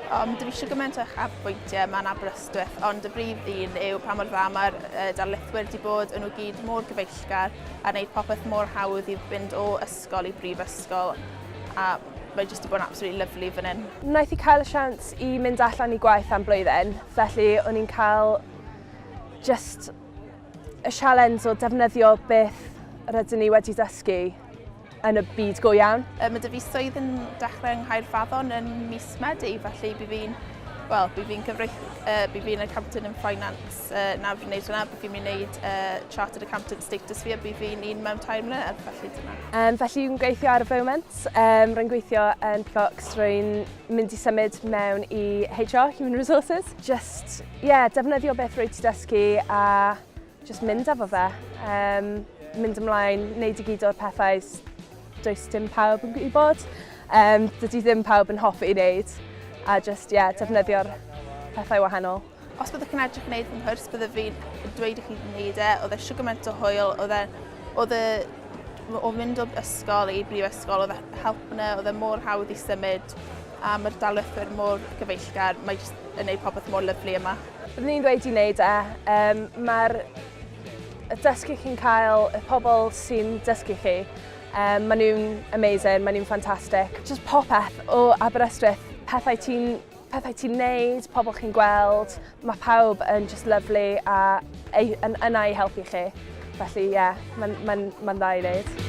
Yym dwi eisiau gymaint o uchafbwyntiau yma yn Aberystwyth, ond y brif un yw pa mor dda mae'r yy darlithwyr wedi bod, yn nhw gyd mor gyfeillgar a wneud popeth mor hawdd i fynd o ysgol i brifysgol a Mae jyst 'di bod yn absolutely lovely fan hyn. Wnaeth i cael y siawns i mynd allan i gwaith am blwyddyn, felly o'n i'n cael just y sialens o defnyddio beth rydyn ni wedi dysgu yn y byd go iawn. Um, mae dy fi swydd yn dechrau yng Nghaerfaddon yn mis Medi, felly bydd fi'n well, bydd fi'n cyfreith, uh, bydd fi'n accountant yn finance. Uh, na fi'n neud hwnna, fi'n mynd neud uh, Chartered Accountant status fi a bydd fi'n un mewn tair mlynedd, felly dyna. Um, felly fi'n gweithio ar y foment, um, rwy'n gweithio yn Plox, rwy'n mynd i symud mewn i HR, Human Resources. Just, yeah, defnyddio beth rwy ti dysgu a just mynd efo fe. Um, mynd ymlaen, neud i gyd o'r pethau does dim pawb yn gwybod. Um, dydy ddim pawb yn hoffi i wneud a just, yeah, defnyddio'r pethau wahanol. Os byddwch chi'n edrych wneud fy nghwrs, byddaf fi'n dweud i chi wneud e. Oedd e siwr gymaint o hwyl, oedd e... Oedd e... O fynd o ysgol i brifysgol, oedd e help yna, oedd e mor hawdd i symud, a mae'r dalwythwyr mor gyfeillgar, mae jyst yn gwneud popeth mor lyflu yma. Byddwn i'n dweud i wneud e. Um, Mae'r dysgu chi'n cael, y pobl sy'n dysgu chi, um, maen nhw'n amazing, maen nhw'n ffantastig. Just popeth o Aberystwyth, pethau ti'n pethau ti'n neud, pobl chi'n gweld, mae pawb yn just lovely a yn yna i helpu chi. Felly ie, yeah, mae'n ma n, ma n dda i wneud.